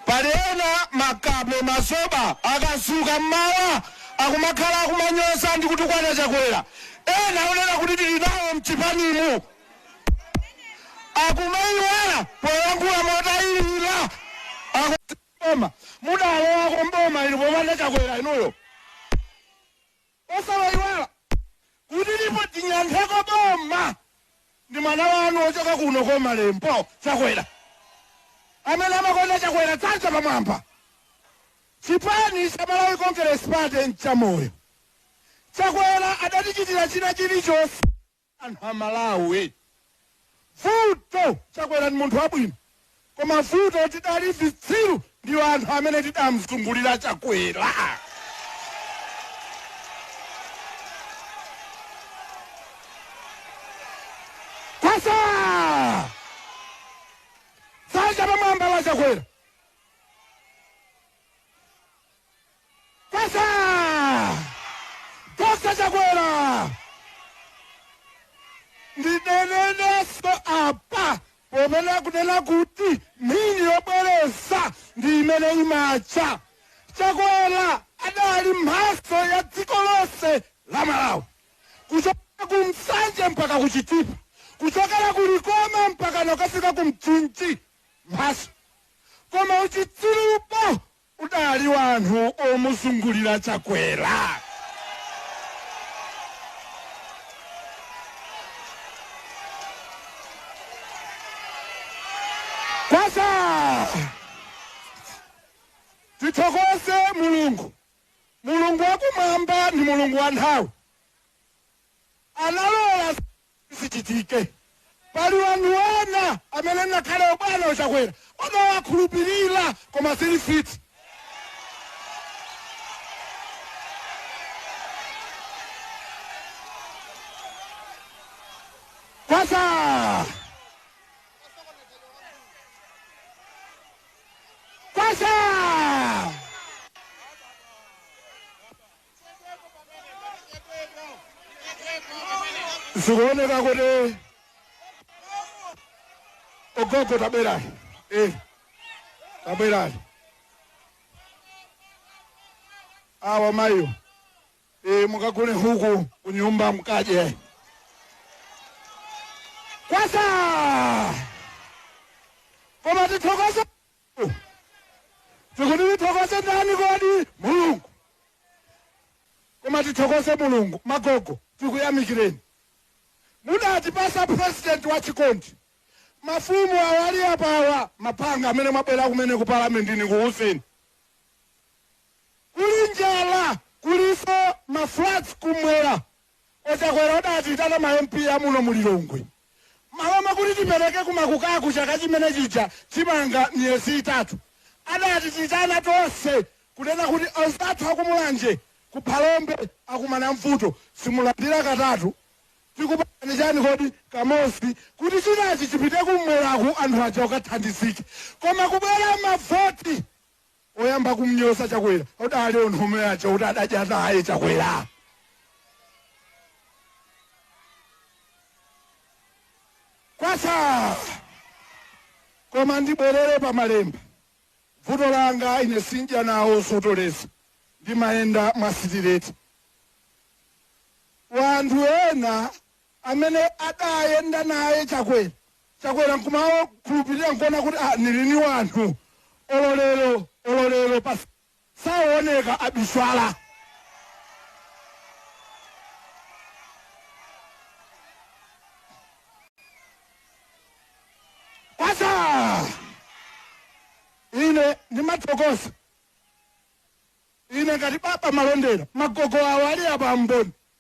Pali ena makape, mazoba, akadzuka mmawa akumakhala akumanyoza ndi kutukwana Chakwera, ena owonena kuti tili nawo mchipanimu akumaiwala poyankhula motayilila ati boma. Mudalowako mboma ili popanda Chakwera inuyo? Osamaiwala kuti ndipo tidyankhako boma ndi mwana wanu ochoka kuno koma Lembo chakwera amene amakonda chakwera dzanja pamwamba chipani cha malawi congress party nchamoyo chakwera adatichitira china chilichose anthu aMalawi vuto chakwera ndi munthu wabwino koma vuto tidali vitsiru ndi anthu amene tidamzungulira chakwera kwacha dzanja pamwamba la chakwera Kwacha! Kwacha Chakwera! Ndinenenenso apa popanda kunama kuti mphini yobwereza ndi imene imawala. Chakwera adali mphatso ya dziko lonse la Malawi, kuchokera ku Nsanje mpaka ku Chitipa, kuchokera ku Likoma mpaka kukafika ku Mchinji, mphatso. Koma uchitsirupo Kudali wanthu omuzungulira Chakwera kwacha! Tithokoze Mulungu, Mulungu wakumwamba ndi Mulungu wanthawi, analola zinthu zichitike. Pali wanthu ena amene ngakhale obwana uchakwera amawakhulupilila koma zili fit. Kwacha! Kwacha! zikuoneka kuti ogogo tabwerani eh, tabwerani awa mayo eh, mukagule nkhuku kunyumba mukadye kwacha koma tithokoza tikuti tithokoze ndani kodi mulungu koma tithokoze mulungu magogo tikuyamikireni mudatipasa president wa chikondi mafumu awali apawa mapanga amene mwabwera kumene ku parliament ndikuuzeni kuli njala kulinso maflats kumwera A Chakwera adatiitana ma MP a muno mu Lilongwe malo mwakuti tipereke ku makukaku chaka chimene chija chimanga miyezi itatu adatiitana tonse kunena kuti anzathu a ku Mulanje ku Phalombe akumana mvuto simulandira katatu tikupatsani chani kodi kamodzi kuti chinachi chipite kumweraku anthu aja akathandizike koma kubwera mavoti Oyamba kumnyoza chakwera adali anthu omwe aja kuti adadya naye chakwera. Kwacha! Koma ndibwerere pa malemba. Vuto langa ine sindya nawo zotolera. Ndimayenda mwa sitireti. Wanthu ena amene adayenda naye chakwera Chakwera nkumawakhulupilira nkuona kuti ah nili ni wanthu olo lero olo lero pasaoneka abiswala kwacha ine ndimathokoza ine ngati Baba Malondera magogo awo ali abamboni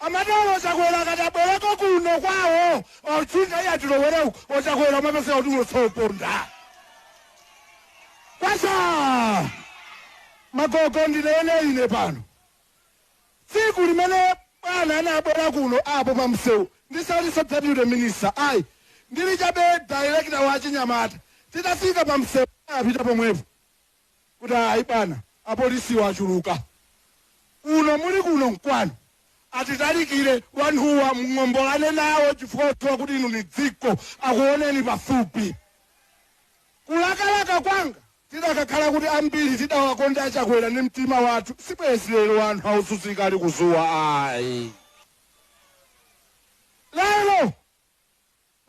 Amatero ochakwera akati abwereko kuno kwawo mautsinga iya tilowere uku ochakwera umapezeka kuti ulotsoponda kwacha magogo ndinene ine pano tsiku limene bwana anabwera kuno apo pa msewu ndisalinso deputy minister ayi ndili chabe director wa chinyamata titafika pa msewu apita pomwepo kuti ayi bwana apolisiwa achuluka kuno muli kuno nkwanu asatalikire wanthuwa mung'ombolane nawo chifukwa othiwa kuti inu ni dziko akuoneni pafupi kulakalaka kwanga tidakakhala kuti ambiri tidawakonda achakwera ndi mtima wathu sibwezi lero wanthu akuzunzika ali kuzuwa ayi lero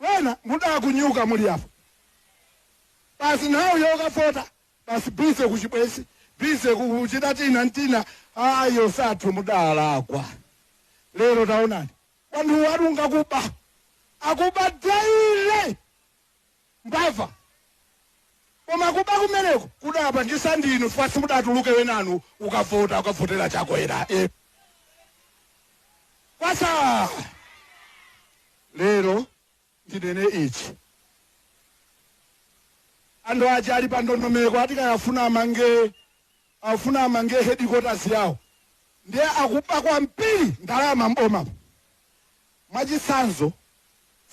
Wena mudakunyuka muli apo basi nthawi yokafota basi busy kuchibwezi busy kuchita tina ntina ayi osathu mudalakwa lero taonani wanthu wanu ngakuba akuba daily mbava koma kuba kumeneko kudapangisa ndinu chifukwa simudatuluke wenanu ukavota ukavotera chakwera e kwasaa Lero ndinene ichi. Anthu aja ali pa ndondomeko ati kaya afuna amange afuna amange headquarters yawo ndiye akuba kwambiri ndalama m'bomamu. Mwachitsanzo,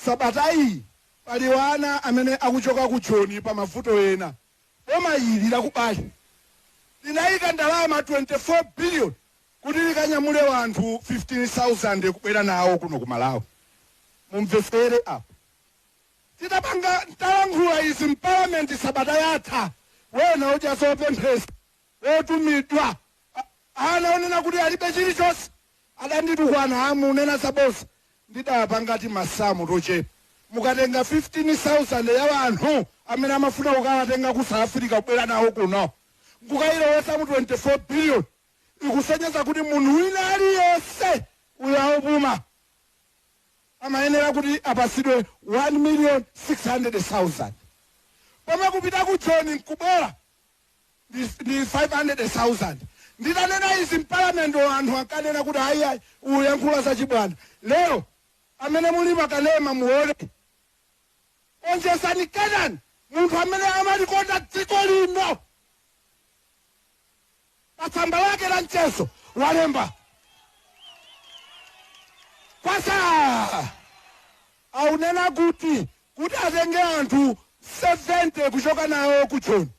sabata iyi pali ana amene akuchoka ku Joni pa mavuto ena. Boma ili la Kubali linayika ndalama 24 billion kuti likanyamule wanthu 15000 kubwera nawo kuno ku malawi mumvesere apa titapanga talankhula izi mpalamenti sabata yathayi wena odya zopemphesa wotumidwa aunena kuti alibe chilichose adanditukwana aunena zabosa ndidawapanga timasamu tochepa mukatenga 15000 ya wanthu amene amafuna kukawatenga ku south africa kubwera nawo kuno nkukayilowesa mu 24 billion ikusonyeza kuti munthu wina aliyense uyo aupuma amayenera kuti apasidwe 1 million 600,000 pomwe kupita ku joni nkubwera ndi 500,000 nditanena izi mpalamenti anthu ankanena kuti ayi ayi uyankhula za chibwana lero amene muli ma kanema muone onjezani kenani munthu amene amalikonda dziko lino pa tsamba lake la mchezo walemba kwasa aunena kuti kuti atenge anthu 70 kuchoka nawo ku joni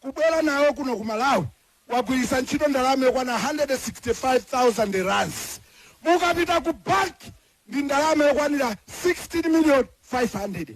kubwera nawo kuno ku malawi wagwiritsa ntchito ndalama yokwana 165000 rands mukapita ku banki ndi ndalama yokwanira 16 million 500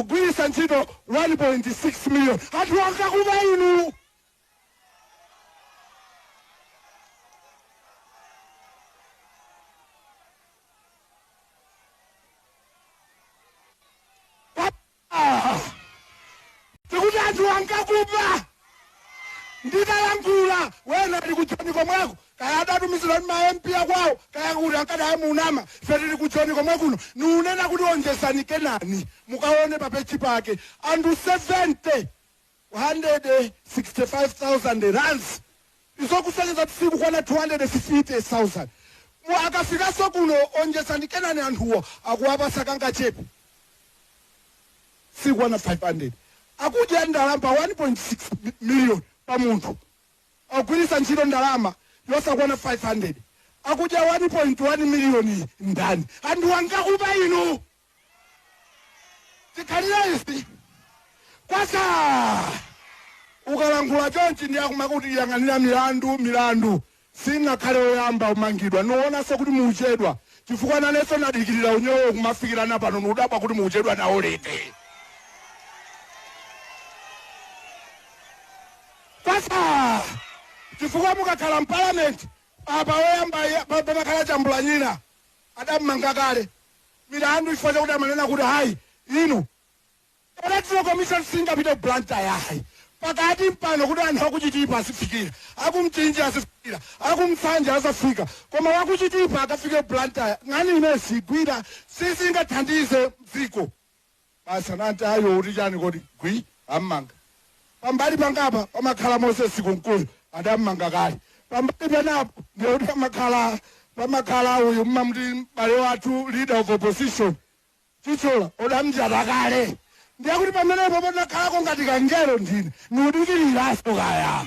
akugwiritsa ntchito 1.6 million anthu ngakuba inu Ah! tikuti anthu ngakuba Nditalankhula, wena ali ku Joni komweko, kaya adatumizidwa ndi ma MP a kwawo, kaya kuti ankadana nane, ife tili ku Joni komwe kuno, niwunena kuti onjezani kenani, mukaone pa page pake, anthu 70, 165,000 rands. Izo kusonyeza kuti sikukwana 250,000 mu akafikanso kuno Onjezani Kenani anthuwo akuwapatsa kangachepe sikukwana 500 akudya ndalama pa 1.6 million pa munthu akugwiritsa ntchito ndalama yosakwana 500 akudya 1.1 million iyi ndani anthuwa ngakuba inu Chikhalirenicho kwasa ukalankhula chonchi ndiye akumakuti yang'anira milandu milandu singakhale oyamba umangidwa nuonaso kuti muuchedwa chifukwa naneso nadikilira unyolo ukumafikirana pano nudabwa kuti muuchedwa nawo liti kwasa chifukwa mukakhala mpalamenti apa oyamba pamakhala chambulanyina adam'manga kale milandu chifukwa chakuti amanena kuti hayi inu electoral commission singapite ku Blantyre yayi pakati pompano kuti anthu akuchitipa azifikira akumchinji azifikira aku Nsanje azafika koma wakuchitipa akafike ku Blantyre nkhani imeneyi sigwira sizingathandize dziko Basi akanati ayi ukuti chani kodi gwi ammanga pambali panga apa pamakhala moses kunkuyu adammanga kale pambali penapo ndiye kuti pamakhala pamakhala uyu mumamuti m'bale wathu leader of opposition Chithyola odamjata kale ndiye kuti pamenepo patakhalako ngati kangelo ndine ndikudikiriranso kaya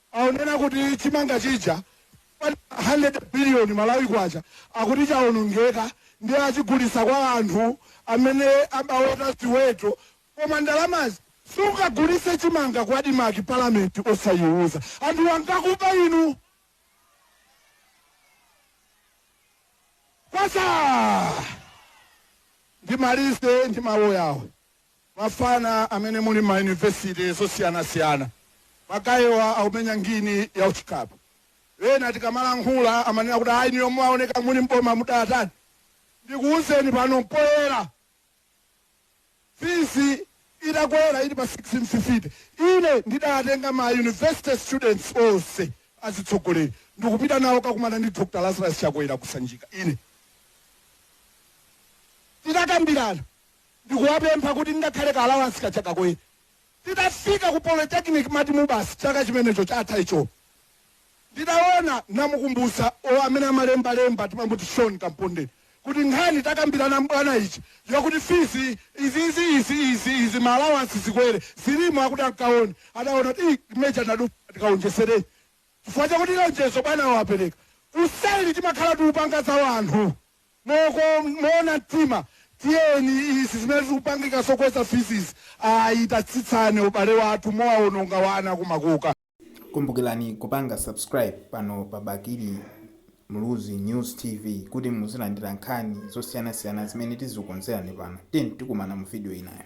Akunena kuti chimanga chija chokwanira 100 billion Malawi kwacha akuti chaonongeka ndiye achigulitsa kwa anthu amene amaweta ziweto koma ndalamazo sungagulitse chimanga ku Admarc parliament osayiuza anthuwa ngakuba inu. Kwacha! Ndimalize ndi mawu awa. Mafana amene muli mma university zosiyanasiyana magayewa akumenya ngini ya uchicab ena akamalankhula amanena kuti ayi inuyo mumaoneka muli m'boma mudatani ndikuuzeni pano poyera fees itakwera ili pa six fifty ine ndidawatenga ma university students onse azitsogoleri ndikupita nawo kukakumana ndi Dr Lazarus Chakwera ku Sanjika ine titakambirana ndikuwapempha kuti ngakhale ka allowance kaja kakwere. Titafika ku polytechnic matimu basi chaka chimenecho chatha icho. Nditaona namukumbutsa or amene amalemba lemba timamuti Sean Kamponde kuti nkhani takambirana ndi bwana ija yokuti fees izizi izi izi izi ma allowance zikwere zilimo akuti akaone adaona kuti "Ih, major nadupa tikaonjesereni chifukwa chakuti lonjezo bwana wapereka. Usanali timakhala tikupanga za wanthu. Mmoona mtima tiyeni izi zimene zikupangika zokweza fees izi ayi tatsitsani abale athu mukuwaononga wana kumakoka. Kumbukilani kupanga subscribe pano pa Bakili Muluzi News TV kuti muzilandila nkhani zosiyanasiyana zimene tizikonzelani pano tiyeni tikumana mu video inayo.